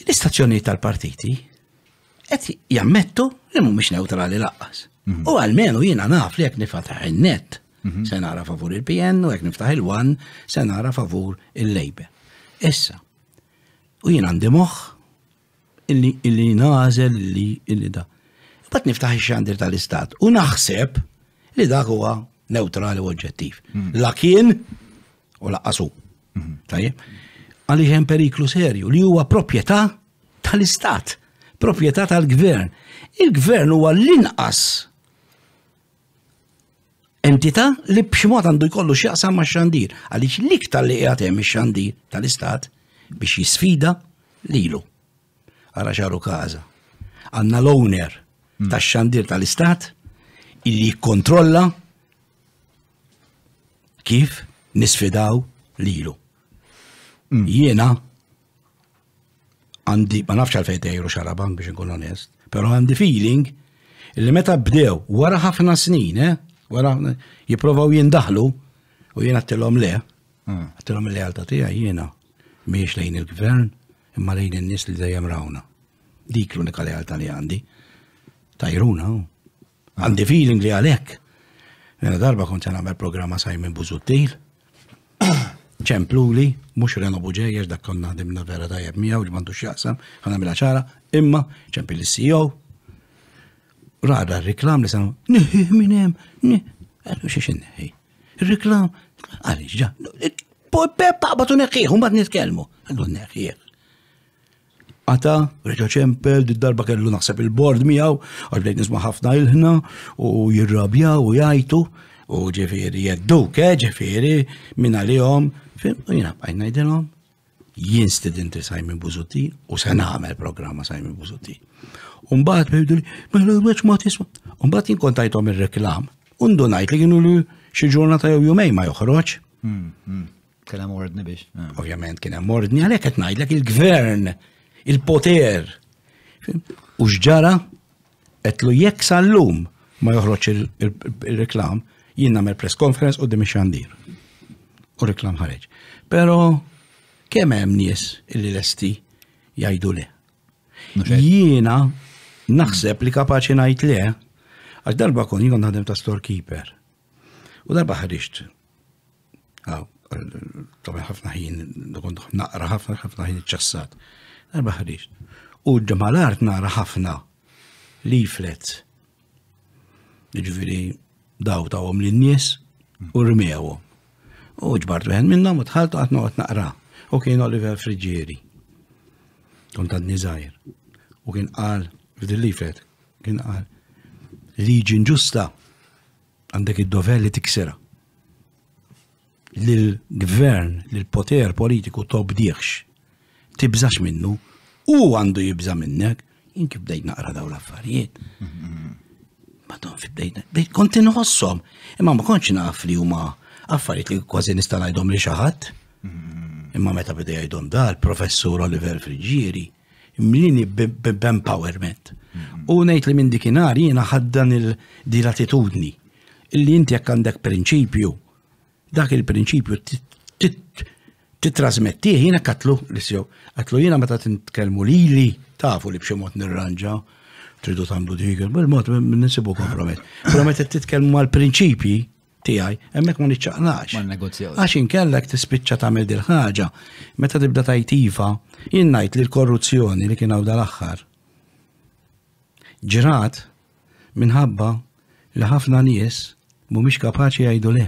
L-istazzjonijiet tal-partiti qed jammettu li mhumiex neutrali laqqas. Mhm. U għalmenu jiena naf li jekk nifataħ in-net mhm. se nara favur il-PN u jekk niftaħ il-wan se nara favur il-Lejbe. Issa, u jien għandi moħħ illi nażel li illi da. Bat niftaħ ix-xandir tal-istat u naħseb li dak huwa neutrali u oġġettiv. Mhm. La kien u laqqas hu. Mhm. Tajjeb. Għaliex hemm periklu serju li huwa proprjetà tal-istat, proprjetà tal-gvern. Il-gvern huwa l-inqas entità li b'ximot għandu jkollu x'jaqsam ma' xandir, għaliex l-iktar li qiegħed hemm ix-xandir tal-istat biex jisfida lilu. Ara xaru kaza. Għanna l-owner mm. tax xandir tal-istat illi jikkontrolla kif nisfidaw lilu. Mm. Jiena għandi, ma nafx għalfejn tejru xaraban biex nkun onest, pero għandi feeling li meta bdew wara ħafna snin, eh, wara jiprovaw jindaħlu u jiena għattilom le, mm. għattilom le għalta tija jiena miex lejn il-gvern imma lejn in-nies li dejjem rawna. Dik l-unika lealtà li għandi. Tajruna, Għandi feeling li għalhekk Mela darba kont se nagħmel programma Simon Buzuttil. ċempluli, mhux Reno Buġeja, dak konna dimna vera tajjeb miegħu li m'għandux jaqsam, ħa nagħmilha ċara, imma ċempil is-CEO. Rada r-reklam li sanu, niħi minn hemm, għadu xiex inneħi. Ir-reklam, għaliex ġa, peppa batu neħħieħ, un bad nitkellmu, għadu neħħieħ. Ata, reġa ċempel, darba kellu naħseb il-bord miegħu, għax bdejt nisma' ħafna ilħna u jirrabjaw u jajtu u ġifieri jedduk, eh, ġifieri minn għalihom, fim, u jiena bqajt ngħidilhom jien studenti Simon Buzuti u se nagħmel programma Simon Buzuti. Umbagħad bħidu li, mela weċ ma tisma'. Umbagħad jien kontajthom ir-reklam. Undu ngħid li kienu li xi ġurnata jew jumej ma joħroġ. Hmm, hmm. Kien hemm ordni biex. Eh. Ovvjament kien hemm ordni għalhekk qed ngħidlek il-gvern, il-poter. U x'ġara qed lu jekk sal-lum ma joħroġ il-reklam, jien nagħmel press conference u dimi xandir. U reklam ħareġ. Pero kemm hemm nies illi lesti jgħidu le. Jiena naħseb li kapaċi ngħid le għax darba kon jien naħdem ta' storekeeper. U darba ħriġt Ah, Tabi ħafna ħin, kont naqra ħafna ħafna ħin ċassat. Darba ħriġ. U d-malart naqra ħafna leaflets. Ġviri, daw tawhom lin-nies u rmewhom. U ġbart wieħed minnhom u tħaltu qatt noqgħod naqra. U kien Oliver Friġieri. Kont għadni żgħir. U kien qal f'dil-lifet, kien qal liġi ġusta għandek id-dover li tiksera. Lill-gvern, lill-poter politiku tobdiħx, tibżax minnu, u għandu jibża minnek, jinki bdejt naqra daw l-affarijiet. Madon fi bdejt, bdejt kont inħossom, imma ma konċ naf li huma affarijiet li kważi nista' ngħidhom li xi ħadd. Imma meta bidej jgħidhom dal, professur Oliver Frigieri, mlini b'empowerment. Mm-hmm. U ngħid li minn dikinar jiena ħaddan il-di l-attitudni illi inti jekk għandek prinċipju, dak il-prinċipju titrasmettih jiena katlu l-issew. Katlu jiena meta titkellmu lili tafu li b'xi mod nirranġa tridu tagħmlu dik il-mod nisibu kompromess. Promet qed titkellmu mal-prinċipji tiegħi, hemmhekk ma niċċaqlax. Ma negozjaw. Għax inkellek tispiċċa tagħmel dil ħaġa meta tibda tajtiva, jien ngħid li l-korruzzjoni li kien hawn dal-aħħar ġrat minħabba li ħafna nies mhumiex kapaċi jgħidu le.